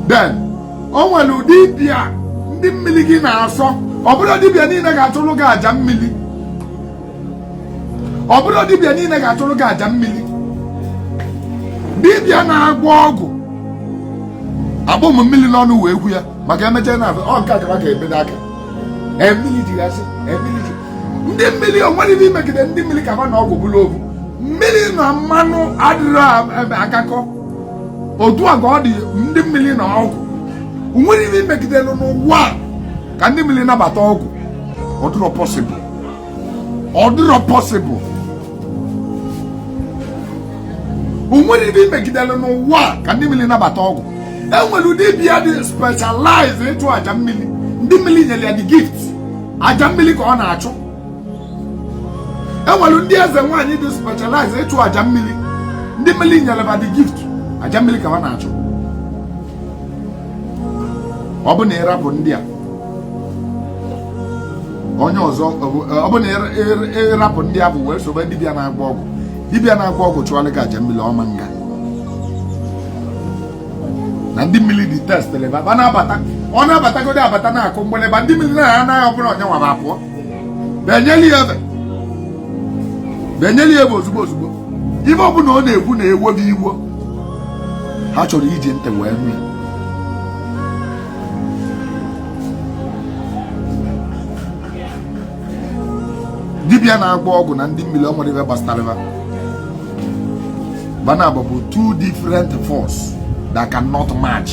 then o nwere ụdị dibịa ndị mmiri gị na-asọ ọ bụrọ dibịa niile ga-achụrụ gị aja mmiri ọ bụrọ dibịa niile ga-achụrụ gị aja mmiri dibịa na-agwọ ọgwụ akpụrọ mụ mmiri n'ọnụ wee kwu ya maka emechaa na ọ nke akara ka ebedo aka mmiri jigasị mmiri ji ndị mmiri o nwerọ ibe i megide ndị mmiri ka ha na ọgwụ bụrụ ovu mmiri na mmanụ adịrọ agakọ otu a ka ọ dị ndị mmiri na ọgwụ o nwerọ ihe i megidelu n'ụwa ka ndị mmiri nabata ọgwụ ọ dịrọ possible ọ dịrọ possible o nwerọ ibe i megidere n'ụwa ka ndị mmiri nabata ọgwụ enwere ụdị dibịa dị specialize ịchụ aja mmiri ndị mmiri nyere ya the gift aja mmiri ka ọ na-achụ enwere ndị eze nwaanyị dị specialize ịchụ aja mmiri ndị mmiri nyere ba the gift aja mmiri ka ha na-achụ ọ bụ na ịrapụ ndị a onye ọzọ ọ bụ na ịrapụ ndị a bụ wee sobe dibịa na-agwọ ọgwụ dibịa na-agwọ ọgwụ chụọrọ gị aja mmiri ọ ma nga na ndị mmiri detest ba na-abata ọ na-abatagodo abata na-akụ mgbịrịgba ndị mmiri na-anaghị ọbụla onye nwara apụọ ba enyeli ya ebe ba enyeli ya ebe ozugbo ozugbo ibe ọbụla ọ na-ekwu na-ewo ba iwo ha achọrọ iji ntị wee nụ ya dibịa na-agwọ ọgwụ na ndị mmiri o nwerọ ibe gbasatara ba ba naabọ bụ two different force that cannot match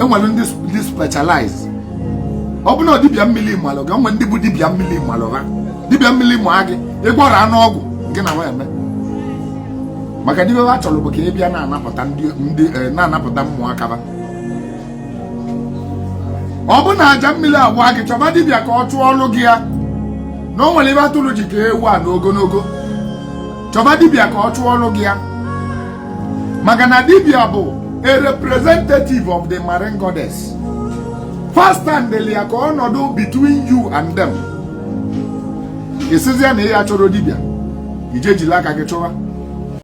enwere ndị dị specialize ọ bụ na dibịa mmiri malụ gị o nwere ndị bụ dibịa mmiri malụ ha dibịa mmiri ma gị ị gwọrọ anụ ọgwụ nke na wa eme maka dibịa ha chọrọ bụ ka ị bịa na-anapụta ụmụaka ba ọ bụ na aja mmiri agwa gị chọba dibịa ka ọ chụọrọ gị ya na o nwere ebe atụrụ ji ka ewu a n'ogologo chọba dibịa ka ọ chụọrọ gị ya maka na dibịa bụ a representative of the marine goddess first time deli ya ka ọ nọdụ between you and them ị sịzie na ya chọrọ dibịa i jee jili aka gị chụwa